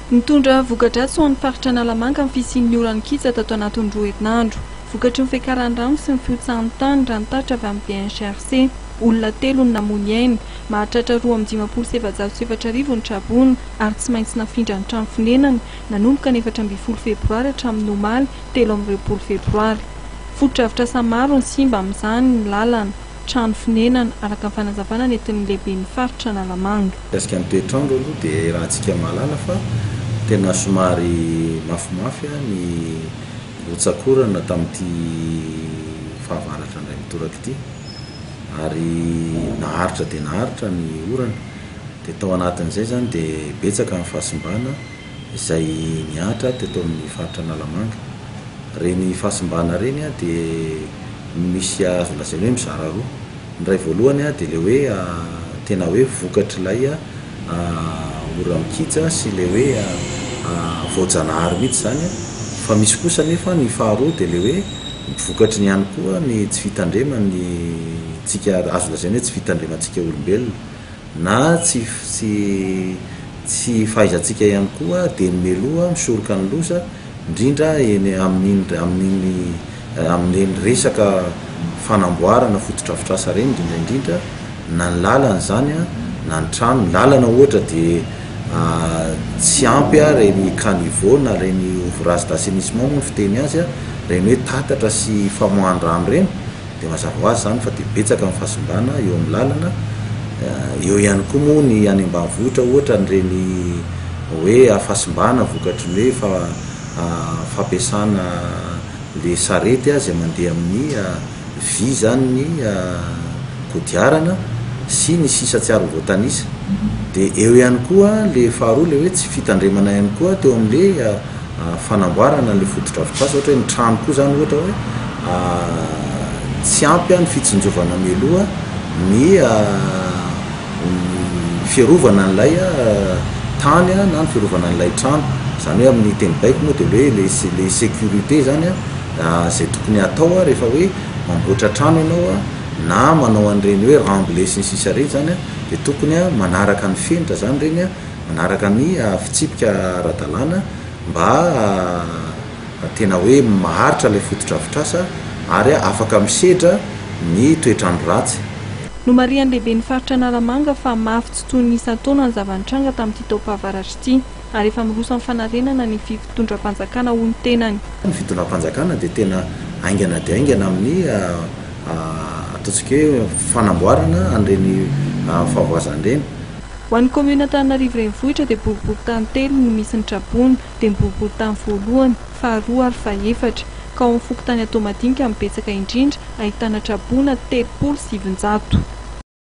Nitondra voka-dratsy ho an'ny faritra Analamanga ny fisian'ny oran'ny kija tato anatin'ny roa herinandro. Vokatry ny fiakaran'ny rano sy ny fihotsahan'ny tany raha ny tatitra avy amin'ny DHRC, olona telo no namoy ny ainy. Mahatratra roa amby dimampolo sy efajato sy efatra arivo ny traboina ary tsy maintsy nafindra ny trano fonenany nanomboka ny efatra ambin'ny folo febroary hatramin'ny omaly telo amby roapolo febroary. Fotodrafitrasa maro no simba amin'izany ny lalana. trano fonenana, araka ny fanazavana nentin'ny lehiben'ny faritra Analamanga. Mikasika ny toetr'andro aloha dia iarahantsika mahalala fa tena somary mafimafy ny rotsak'orana tamin'ity fahavaratra indray mitoraka ity ary naharitra dia naharitra ny orana dia tao anatin'izay izany dia betsaka ny fahasimbana izay nihatra teto amin'ny faritra Analamanga. Ireny fahasimbana ireny dia misy azo lazaina hoe mizara roa. Ny iray voalohany dia ilay hoe tena hoe vokatr'ilay ora mikija sy ilay hoe voajanahary mihitsy izany fa misy kosa anefa ny faharoa dia ilay hoe vokatry ny ihany koa ny tsy fitandreman'ny tsika azo lazaina hoe tsy fitandremantsika olombelona. na tsy tsy tsy fahaizantsika ihany koa dia ny meloa misoroka ny loza indrindra eny amin'iny amin'iny amin'ireny resaka fanamboarana fotodrafitrasa ireny indrindra indrindra na ny lalana izany an na ny trano ny lalana ohatra dia tsy ampy an ireny caniveau na ireny ouvrage d'assainissement moa ny fiteny azy an ireny hoe tatatra sy famoahan-drano ireny Dia mazava ho azy izany fa dia betsaka ny fahasimbana eo amin'ny lalana, eo ihany koa moa ny any ambanivohitra ohatra an'ireny hoe fahasimbana vokatry ny hoe fampiasana ilay sarety izay mandeha amin'ny vy izany ny kodiarana sy ny sisa tsy ary voatanisa. Dia eo ihany koa ilay faharoa ilay hoe tsy fitandremana ihany koa teo amin'ilay fanamboarana an'ilay fotodrafitrasa, ohatra hoe ny trano koa izany ohatra hoe tsy ampy ny fitsinjovana mialoha ny fiarovana an'ilay tany na ny fiarovana an'ilay trano, izany hoe amin'ny teny baiko moa dia hoe ilay sécurité izany izay tokony hatao rehefa hoe mamboatra trano ianao na manao an'ireny hoe remblais sy ny sisa ireny izany dia tokony manaraka ny fenitra izany ireny. manaraka ny fitsipika ara-dalàna mba tena hoe maharitra ilay fotodrafitrasa ary afaka misedra ny toetr'andro ratsy. Nomarihan'ny lehiben'ny faritra Analamanga fa mafy tsy toy ny isan-taona ny zava-nitranga tamin'ity taom-pahavaratra ity ary efa miroso amin'ny fanarenana ny fifitondram-panjakana hoy ny tenany. Ny fitondram-panjakana dia tena haingana dia haingana amin'ny ataontsika hoe fanamboarana an'ireny fahavoazana ireny. Ho an'ny kaominina Antananarivo Renivohitra dia boriborintany telo no misy ny tra-boina, dia ny boriborintany voalohany, faharoa ary fahefatra. Ka ao amin'ny fokontany Antohomadinika no betsaka indrindra, ahitana tra-boina telopolo sy sivinjato.